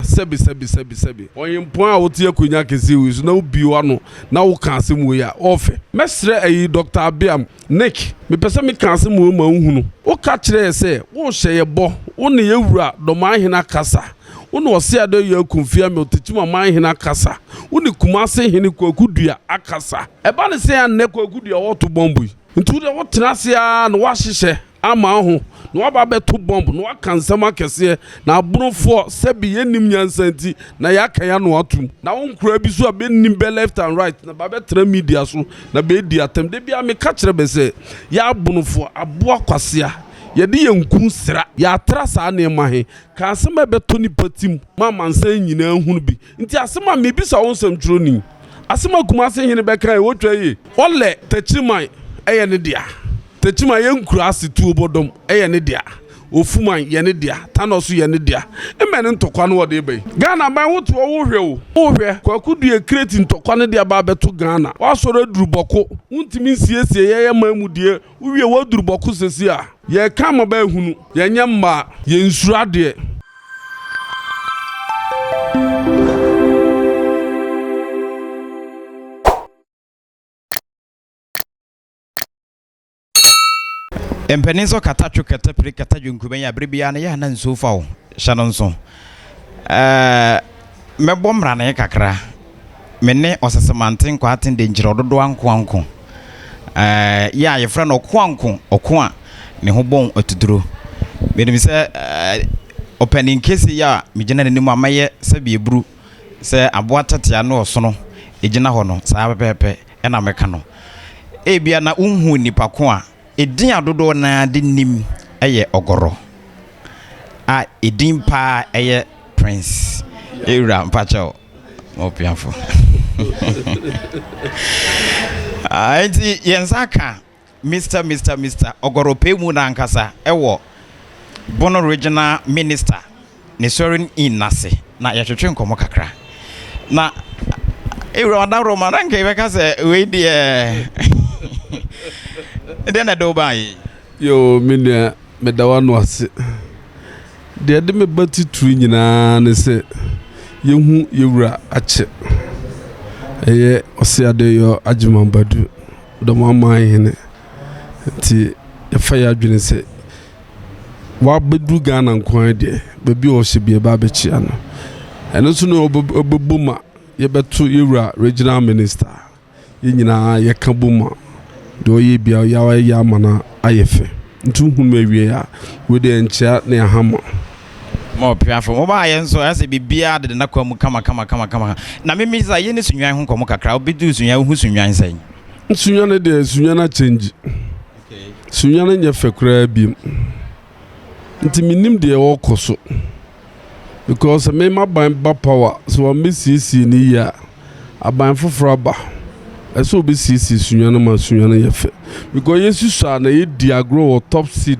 Sɛbe, sɛbe, sɛbe, sɛbe. Ɔyempɔn a wote akonnwa kɛse wei so na wubue w'ano na woka asɛm wei a, ɔɔfɛ. Mɛsrɛ ayi Dɔkta Abeam, Nick, mepɛ sɛ meka asɛm wei ma wohunu. Woka kyerɛ yɛ sɛ worehyɛ yɛ bɔ, wo ne yɛ Wura Dɔmanhene akasa, wo ne Ɔseadɔyɛ Akumfi Amel Techimamanhene akasa, wo ne Kumase Hene Kwaku Dua akasa. Ɛba ne sɛn a nnɛ Kwaku Dua wɔɔto bɔmbo yi nti wo deɛ wotena ase ara na woahyehyɛ. ama wo ho na waba abɛto bɔmb na waka nsɛm akɛseɛ na aborofoɔ sɛbi yɛnnim nyansa nti na yɛaka yɛn ano atom na wo nkoraa bi so a bɛnni bɛ left and right na bɛabɛtena media so na bɛredi atɛm da biara meka kyerɛ bɛ sɛ yɛ abonofoɔ aboa kwasea yɛde yɛn nku sra yɛatra saa nneɛma he ka asɛm a ɛbɛtɔ nnipa tim ma amansan nyinaa ahunu bi nti asɛm a mebisa wo nsɛmtwerɛni asɛm a Kumase hene bɛkaeɛ ɔtwa yie ɔlɛ takyireman ɛyɛ ne dea. Tekyima yɛ nkuraase tuo bɔdɔm yɛ ne dea, Ofuman yɛ ne dea, Tanɔ nso yɛ ne dea. Mmɛ ne ntɔkwa no wɔde reba yi. Ghana aban wo te hɔ wo hwɛ o, wo hwɛ. Kwaku Duye Kreti ntɔkwa no de aba abɛto Ghana. Woasɔre aduru bɔko, wontumi nsiesie yɛn aman mu deɛ, wowie woaduru bɔko sesie a. Yɛreka ama bɛ ahunu, yɛnyɛ mmaa, yɛnsuro adeɛ. Mpanin nso kata twe kata pire kata dwonkuben yi a bere biara no yɛ a na nsuo fa wo hyɛ no nso. Ɛɛ mɛbɔ mmrane kakra. Me ne ɔsesemante nkwaaten de nkyerɛ ɔdodo ankoanko. Ɛɛ yɛ a yɛfrɛ no ɔkoanko ɔko a ne ho bɔn atuduro. Menim sɛ ɛɛ ɔpanin kese yi a megyina n'anim a mɛyɛ sɛ bieburu. sɛ aboa tɛtea ne ɔsono gyina hɔ no, saa ara pɛpɛɛpɛ na meka no. Ebia na wonhuu nnipa ko a edin a dodoɔ no ara de nim yɛ Ɔgɔrɔ, a edin paa yɛ Prince. Ewura mpakyɛw, mo opiafo. Enti yɛn nsa aka Mister Mister Mister Ɔgɔrɔpɛ mu n'ankasa wɔ Bono Regional Minister ne Soaring Inn no ase na yɛtwetwe nkɔmmɔ kakra. Na Ewura Ɔdaworo ma na nka yɛbɛka sɛ wei deɛ deɛ na ɛde wo baeɛ yi? Yoo, me nua, meda w'ano ase. Deɛ ɛde me ba titiriw nyinaa ne sɛ yɛhu yɛn wura Akyɛ, ɛyɛ Ɔse Adeyɔ Agyeman Badu. Dɔm aman hene nti yɛfa yɛ adwene sɛ wabɛduru Ghana nko ara deɛ baabi a ɔhyɛ bi ɛba abɛkyia no ɛno nso na ɔbɛbɔ mu a yɛbɛto yɛwura regional minister yɛn nyinaa yɛka bɔ mu a deɛ ɔyɛ bia yɛayɛ ama no ayɛ fɛ nti wohunu awie a wei deɛ nkyea ne ahama Ma ɔpia fam. Ɔbaeɛ nso ayɛ sɛ biribiara deda n'akwan mu kama kama kama kama. Na me misa, yɛn ne Sunnwan ho nkɔmmɔ kakra. Wo bɛ duru Sunnwan, wo hu Sunnwan sɛn? Sunnwan no deɛ, Sunnwan a change. Sunnwan no nyɛ fɛ koraa biom. Nti me nim deɛ ɛwɔ kɔ so. Because me ma ban ba power, sɛ wɔn bɛ siesie no yie a, aban foforɔ aba. Ɛsɛ ɔbɛ siesie Sunnwan no ma Sunnwan no yɛ fɛ. Because yɛ si so a na yɛ di agorɔ wɔ top seed.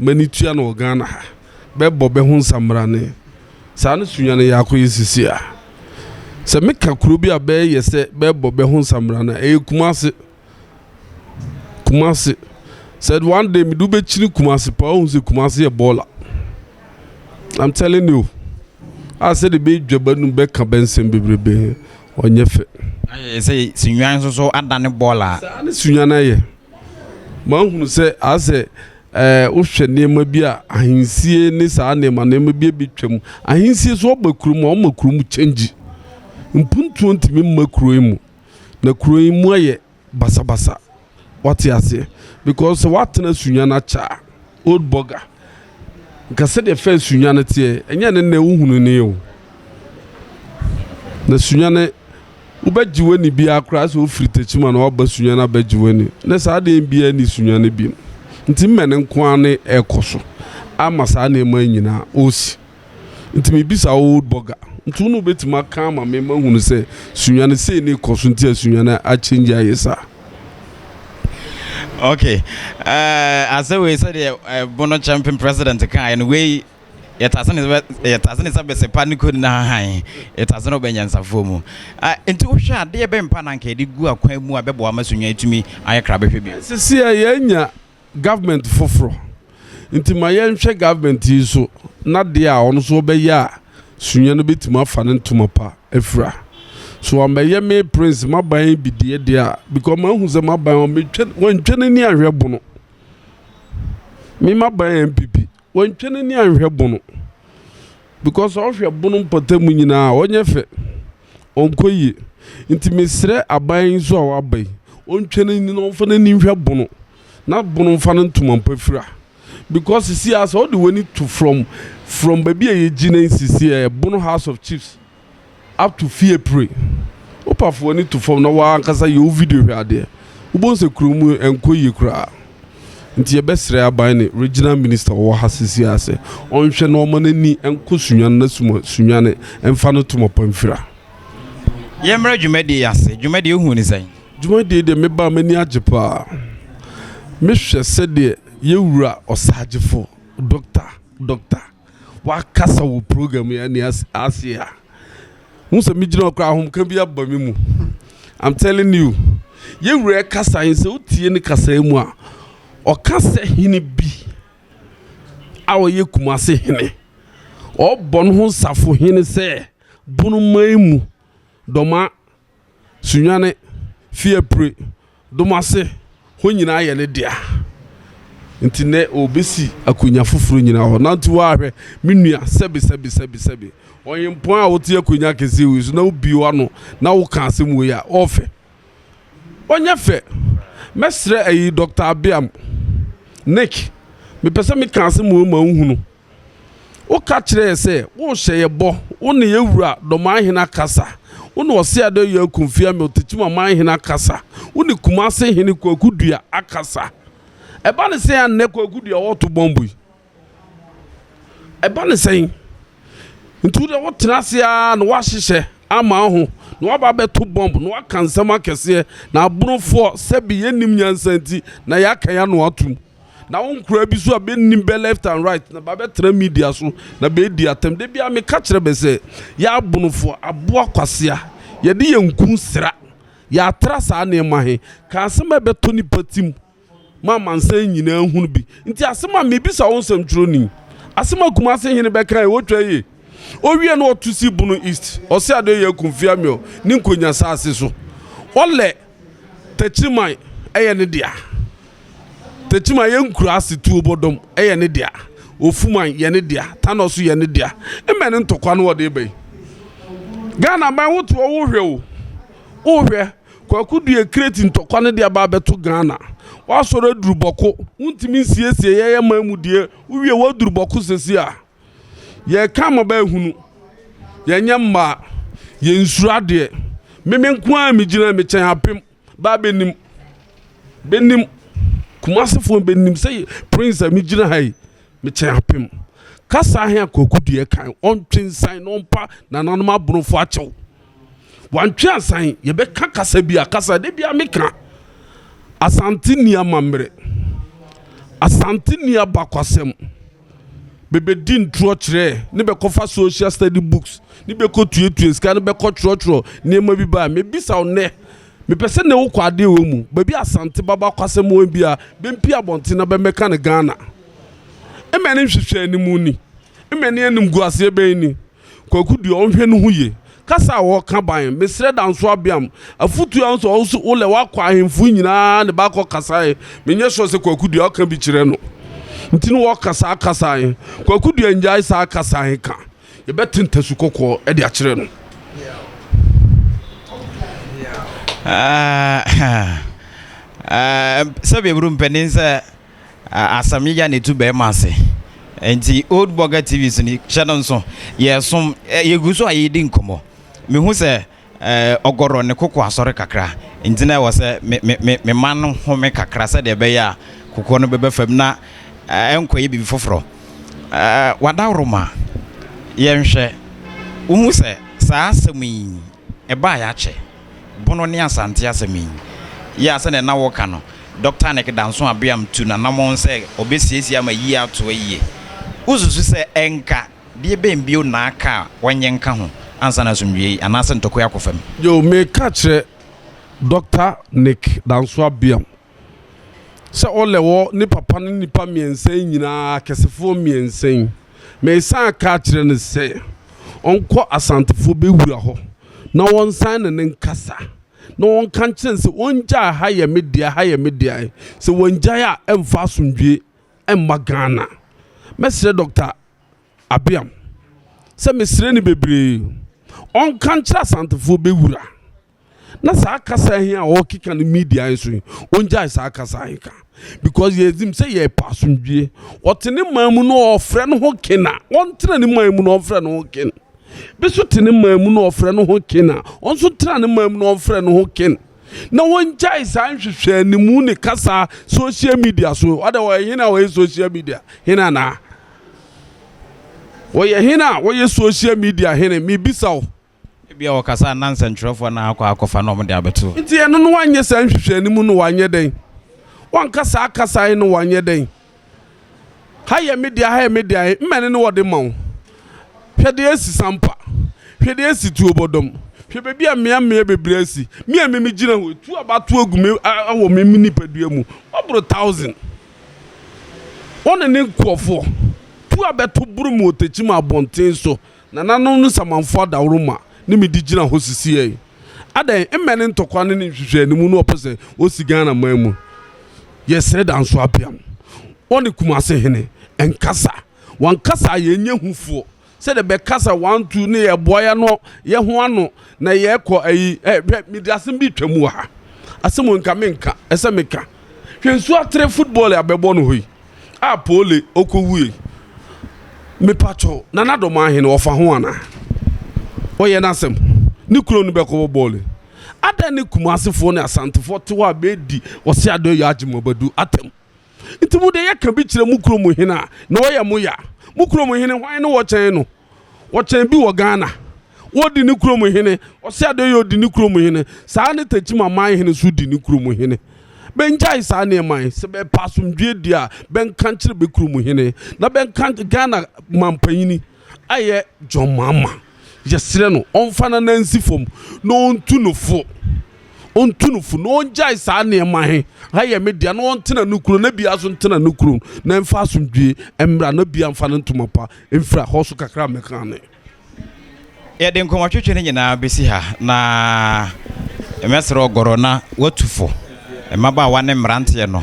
M'ani tua no wɔ Ghana ha. Bɛbɔ bɛ ho nsammrane. Saa ne Sunyani Yaako yɛ seesei a. Sɛ meka kuro bi a bɛyɛ sɛ bɛbɔ bɛ ho nsammrane a, ɛyɛ Kumase. Kumase. Said one day mede wobɛkyini Kumase paa wohu sɛ Kumase yɛ bɔɔla. I'm telling you. A sɛdeɛ bɛdwa bɛnum bɛka bɛ nsɛm bebrebe ɔnyɛ fɛ. Ayɛ sɛ Sunyani nso so adane bɔɔla. Saa ne Sunyani yɛ. Mahunu sɛ a sɛ ɛɛ wohwɛ nneɛma bi a ahensie ne saa nneɛma nneɛma bi bi twam ahensie so ɔba kurom a ɔma kurom kyɛngyi mpuntuo ntumi mma kuro yi mu na kuro yi mu ayɛ basabasa wate aseɛ because sɛ woatena sunya no akyɛ a. Old Burger nka sɛdeɛ fɛ sunya no teɛ ɛnyɛ ne nnɛ wohunu ne o na sunya no wobɛgye w'ani biara koraa sɛ wofiri takyima na waba sunya no abɛgye w'ani na saa adeɛ biara ni sunya no bi nti mmɛ no nko ara ne ɛrekɔ so ama saa nneɛma nyinaa ɔsi Nti mebisa wo Old Burger, nti wo na wobɛtumi aka ama me mahunu sɛ Sunyani sei ne rekɔ so nti a Sunyani a change ayɛ saa? Ok, eh, asɛ wei sɛdeɛ eh, Bono Champion President kaeɛ no, wei yɛtase ne sɛ yɛtase ne sɛ bɛsepa ne kɔni na hahan yɛtase no bɛnyansafoɔ mu ah, nti wohwɛ adeɛ bɛmpa na anka yɛde gu akwan mu a bɛboa ma Sunyani tumi ayɛ krabɛhwɛ bio. Sisi a yɛanya government foforɔ nti ma yɛnhwɛ government yi so na deɛ a ɔno nso ɔbɛyɛ a sunyɛ no bɛtumi afa ne ntoma pa afira so amɛyɛ me prince maban yi bi deɛ deɛ a because mahu sɛ maban wɔntwa n'ani anhwɛ bono me maban npp Wɔntwe n'ani anhwɛ bono because ɔhwɛ bono mpɔtamu nyinaa a ɔnyɛ fɛ, ɔnkɔ yie. Nti mesrɛ aban yi nso a waba yi ɔntwe n'ani na ɔmfa n'ani nhwɛ bono na bono mfa no ntoma mpa fira because sesie ara sɛ wode w'ani to from from baabi a yɛgyina yi sesie ɛyɛ bono house of chiefs. ato fie pire. Wopa fa w'ani to fam na wo ara ankasa yɛ wo video hwɛ adeɛ, wobɛhu sɛ kuro mu nkɔ yie koraa. Nti yɛbɛsrɛ aban ne Regional Minister a ɔwɔ ha seesei ara sɛ ɔnhwɛ na ɔma no ani nkɔ Sunyani na suma Sunyani mfa no to Mapamfira. Yɛmmra dwumadie yi ase. Dwumadie yi wohuu no sɛn? Dwumadie yi deɛ meba a m'ani agye pa ara. Mehwɛ sɛdeɛ yɛn wura ɔsaagyefo, Doctor, Dɔkta, wakasa wɔ program yi ani ase a hu sɛ megyina hɔ koraa ahomka bi aba me mu i'm telling you yɛwura kasa yi sɛ wotie ne kasa yi mu a ɔka sɛ hene bi a ɔyɛ kumase hene ɔbɔ no ho nsafo hene sɛ bono man mu dɔma Sunyane, Fiapre, Domase, hɔ nyinaa yɛ ne dea. Nti nnɛ ɔrebɛsi akonnwa foforɔ nyina hɔ. Nanti hɔ ara hwɛ, me nua, sɛbe, sɛbe, sɛbe, sɛbe. Ɔhempɔn a wote akonnwa kɛseɛ wei so na wobie w'ano na woka asɛm wei a, ɔfɛ? Ɔnyɛ fɛ. Mɛsrɛ ayi, Dɔkta Abeam, Nick, mepɛ sɛ meka asɛm wei ma wohunu. Woka kyerɛɛ yɛ sɛ worehyɛ yɛ bɔ, wo ne yɛ wura dɔmanhene akasa, wo ne Ɔseadoayi Akumfi a Miltetim amanhene akasa, wo ne Kumase hene Kwaku Dua akasa. Ɛba ne sɛn a nnɛ Kwaku Dua wɔreto bɔmbo yi? Ɛba ne sɛn? Nti wo deɛ wotena ase ara na woahyehyɛ ama wo ho na woaba abɛto bɔmbo na woaka nsɛm akɛseɛ na aborofoɔ sɛbe yɛnnim nyansa nti na yɛaka yɛn ano atom. Na wo nkoraa bi so a bɛnim bɛ left and right na bɛabɛtra media so na bɛredi atɛm. Da biara meka kyerɛ bɛ sɛ, yɛ abonofo aboa kwasea, yɛde yɛn nku sra, yɛatra saa nneɛma he, ka asɛm a ɛbɛtɔ nnipa tim ma amansan nyinaa hunu bi. Nti asɛm a mebisa wo nsɛmtwerɛni, asɛm a Kumase hene bɛkae wɔ Twaye, owiɛ na ɔto sii Bono East, ɔse Adoye Akumfeamio ne Nkonya saase so, ɔlɛ, Takyiman yɛ ne dea. Takyiman yɛ nkuraase tuo bɔdɔm yɛ ne dea. Ofuman yɛ ne dea. Tanɔ nso yɛ ne dea. Mmɛ ne ntɔkwa na wɔde reba yi. Ghana man wo teɛ wo hwɛ o, wo hwɛ Kwaku Duah kreti ntɔkwa no de aba abɛto Ghana. Wasɔre aduru bɔko, wontumi nsiesie yɛyɛ man mu deɛ, wo wie woaduru bɔko seesei a. Yɛreka mmɔbaa hunu. Yɛnyɛ mmaa. Yɛnsuro adeɛ. Me me nko ara megyina me kyɛn apem baa bɛnim. Bɛnim. Kumasefoɔ bɛnim sɛ prince a megyina ha yi me kyɛn apem. Kasa ahe a Kwaku Duɛ kan ɔntwe nsan na ɔmpa nananom aborofoɔ akyɛw. Wantwe ansan yɛbɛka kasa bi a kasa da bi a meka Asante ni amammerɛ. Asante ni abakwasɛm. bɛbɛdi ntorɔkyerɛ ne bɛkɔfa social study books ne bɛkɔtuatua sika ne bɛkɔtwerɛtwerɛ nneɛma bi ba a mebisa wo nnɛ mepɛ sɛ ne wokɔ adeɛ wɔ mu baabi a Asante baba kwasɛm wɔ bi a bɛmpie abɔnten na bɛmmɛka no Ghana mmɛne nhwehwɛ anim ni mmɛne animguaseɛ bɛn ni. Kwaku deɛ ɔnhwɛ ne ho yie. Kasa a ɔɔka ban mesrɛ Danso Abeam afutuo a nso ɔwo so wolɛ wakɔ ahenfo nyinaa ne ba akɔ kasa he menyɛ sure sɛ Kwaku deɛ ɔka bi kyerɛ no nti ne ɔɔka saa kasa he Kwaku deɛ ngyae saa kasa he ka yɛbɛte ntasu kɔkɔɔ de akyerɛ no. Aah aah aah sɛbi aburo mpanin sɛ. Asɛm ya na etu bɛrima ase. Nti Old Burger TV so no, hyɛ no nso. Yɛresom, yɛgu so a yɛredi nkɔmmɔ. Mehu sɛ ɔgɔrɔ ne koko asɔre kakra, nti na ɛwɔ sɛ me, me, me, mema no home kakra sɛdeɛ ɛbɛyɛ a kokoɔ no bɛba fam na ɛnkɔyɛ biribi foforɔ. Wadaworo ma yɛnhwɛ. Wohu sɛ saa asɛm yi Ɛbae akyɛ. Bono ne Asante asɛm yi yɛ a sɛnea na wɔka no, Dɔkta Anek Danso Abeam tu n'anammɔn sɛ ɔbɛsiesie ama ayie ato ayie. Wosusu sɛ ɛnka deɛ bɛn bio na aka a wɔnyɛ nka ho ansa na asomdwoeɛ anaasɛ ntɔkwa akɔ fam? Yo, meka kyerɛ Dɔkta Nek Danso Abeam sɛ ɔlɛ hɔ ne papa no nnipa mmiɛnsa yi nyinaa akɛsefoɔ mmiɛnsa yi. Mesan ka kyerɛ no sɛ ɔnkɔ Asantefoɔ bɛwura hɔ na wɔnsan ne no nkasa na wɔnka nkyerɛ no sɛ ɔngyae ha yɛ me dea, ha yɛ me dea. Sɛ wangyae a ɛmfa asomdwoeɛ mma Ghana. Mɛsrɛ Dɔkta Abeam sɛ mesrɛ no bebree, ɔnka nkyerɛ Asantefoɔ bɛwura. na saa kasa yi a ɔkeka no media yi so yi ɔngyae saa kasa yi ka because yɛzim sɛ yɛpɛ asomdwie ɔte ne man mu no ɔfrɛ no ho ken a ɔntena ne man mu no ɔfrɛ no ho ken bi so te ne man mu no ɔfrɛ no ho ken a ɔnso tena ne man mu no ɔfrɛ no ho ken na wɔngyae saa nhwehwɛ animu ne kasa social media so ɔdɛ ɔyɛ hena a ɔyɛ social media hena naa ɔyɛ hena a ɔyɛ social media hene mebisa wo Ebia wɔkasa a na nsɛnkyerɛwfo na akɔ akɔfa na wɔde abɛto. Enti ɛno no wɔanyɛ saa nhwehwɛne mu no wɔanyɛ dɛn? Wɔanka saa kasa yi no wɔanyɛ dɛn? Ha yɛ me dea, ha yɛ me dea, mmɛne ne wɔde ma wo. Hwɛ deɛ asi Sampa, hwɛ deɛ asi Tuobɔdɔm, hwɛ baabi a mmea mmea bebree asi, me a me megyina hɔ yi, tu a wɔato agu me wɔ me nipadua mu, wɔboro thousand. Wɔne ne nkurɔfoɔ, tu a bɛto boro mu wɔ Techiman abɔnten so. Nananom no samanfo adaworoma ne me de gyina hɔ sisiɛ yi. Adɛn, mmɛ ne ntɔkwa ne ne nhwehwɛanimu na wɔpɛ sɛ wɔsi Ghana man mu. Yɛsrɛ Danso Apeam, wɔ ne Kumase hene, nkasa. Wankasa a yɛnyɛ hufoɔ sɛ deɛ bɛkasa wantu ne yɛboa yɛno yɛho ano na yɛkɔ ayi ɛ, hwɛ mede asem bi retwa mu wɔ ha. Asem o nka menka, ɛsɛ meka. Hwɛ nsuo atere football a bɛbɔ no hɔ yi. a pole ɔkɔwuei mepakyɛw nana dɔm ahe no ɔfa ho anaa ɔyɛ n'asɛm ne kuro no bɛkɔbɔ bɔɔle adɛn ne kumasefoɔ ne asantefoɔ te hɔ a bɛdi ɔse adɔ yɛ agye mabadu atɛm nti mo deɛ yɛka bi kyerɛ mo kuro mu hene a na ɔyɛ mo ya mo kuro mu hene hwan ne wɔkyɛn no Wɔkyɛn bi wɔ Ghana. Wodi ne kurom hene. Ɔse Adeyɛ odi ne kurom hene. Saa ara ne Techiman Aman hene nso di ne kurom hene. Bɛngyae saa nneɛma yi. Sɛ bɛrepɛ asomdwoeɛ di a, bɛnka nkyerɛ bɛ kurom hene na bɛnka nkyerɛ Ghana manpanyini a ɛyɛ John Mahama. Yɛsrɛ no ɔmfa n'anan nsi fam na ɔntu no fo. Ɔntu no fo na ɔngyae saa nneɛma he. Ha yɛ me dea na ɔntena ne kurom na biaa nso ntena ne kurom na ɛmfa asomdwoeɛ mmra na biaa mfa ne ntoma pa Mfra hɔ so kakra mmɛka me. Yɛde nkɔmɔtwetwe no nyinaa bɛsi ha, na mɛsrɛ ɔgɔrɔ na watu fo, mmabaawa ne mmeranteɛ no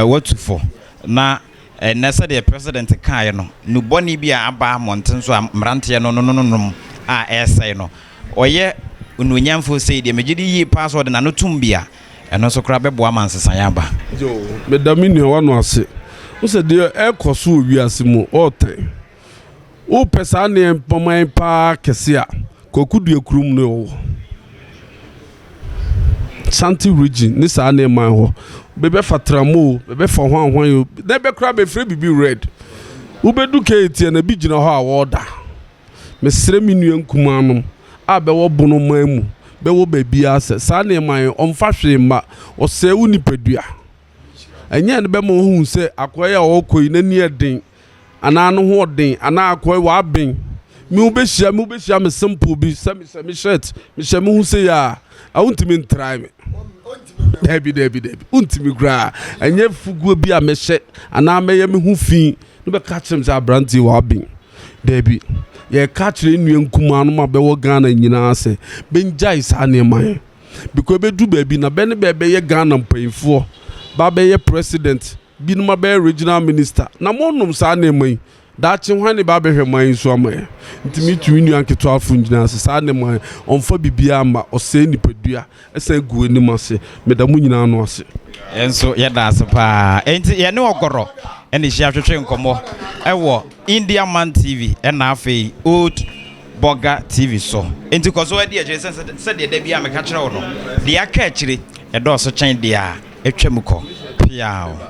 watu fo, na ɛnnɛ sɛdeɛ President kaeɛ no, nubɔne bi a aba mmɔnten so a mmeranteɛ no nono no nom a ɛresɛe no, ɔyɛ onuonyamfoɔ sei deɛ, megye di yie paa sɛ ɔde n'ano tom bi a, ɛno nso koraa bɛboa ma nsesaeɛ aba. Joe, Meda me nuawa no ase. Wohu sɛ deɛ ɛrekɔ so wɔ wiase mu, ɔretɛn. Wopɛ saa nneɛma yi pa ara kɛse a, Kwaku Duah kurom na ɛwɔ. Santi Region ne saa nneɛma yi hɔ. Bɛbɛfa tram o, bɛbɛfa hwan hwan o, na ɛbɛ koraa bɛfrɛ biribi red. Wobɛdu KATN a, ebi gyina hɔ a wɔɔda. Mesrɛ me nua nkumaa nom a bɛwɔ bono man mu bɛwɔ baabiara sɛ saa nneɛma yi ɔmfa hwee mma, ɔsɛe wo nipadua. Ɛnyɛ ɛno bɛma woahu sɛ akoa yi a ɔrekɔ yi n'ani yɛ den anaa ne ho ɔden anaa akoa yi w'aben. Me wobɛhyia me wobɛhyia me simple bi sɛ mehyɛ me shirt mehyɛ me ho sei a wontumi ntrae me. Daabi daabi daabi wontumi koraa ɛnyɛ fuguo bi a mɛhyɛ anaa mɛyɛ me ho fi No bɛka akyerɛ me sɛ abranteɛ w'aben. Daabi. Yɛka akyerɛ yɛn nua nkumaa nom a bɛwɔ Ghana nyinaa sɛ bɛngyae saa nneɛma yɛ. Because ɛbɛduru baabi na bɛ ne bɛ bɛyɛ Ghana mpaninfoɔ, bɛ abɛyɛ president, binom abɛyɛ regional minister. Na mo nom saa nneɛma yi, daakye hwan ne bɛ abɛhwɛ man yi so ama yɛ? Nti me tu me nua nketewafoɔ nyinaa sɛ saa nneɛma yɛ, ɔmfa biribiara mma, ɔsɛe nipadua. Ɛsɛ egu anim ase. Meda mo nyinaa ano ase. Yɛn nso yɛda ase paa. Enti yɛne Ɔgɔrɔ na ɛhyia twetwe nkɔmmɔ wɔ India Man TV na afei Oat Burger TV so. Enti kɔ so ara di akyire sɛ sɛdeɛ da biara meka kyerɛ wo no, deɛ aka akyire ɛdɔɔso kyɛn deɛ a atwam kɔ. Peaw!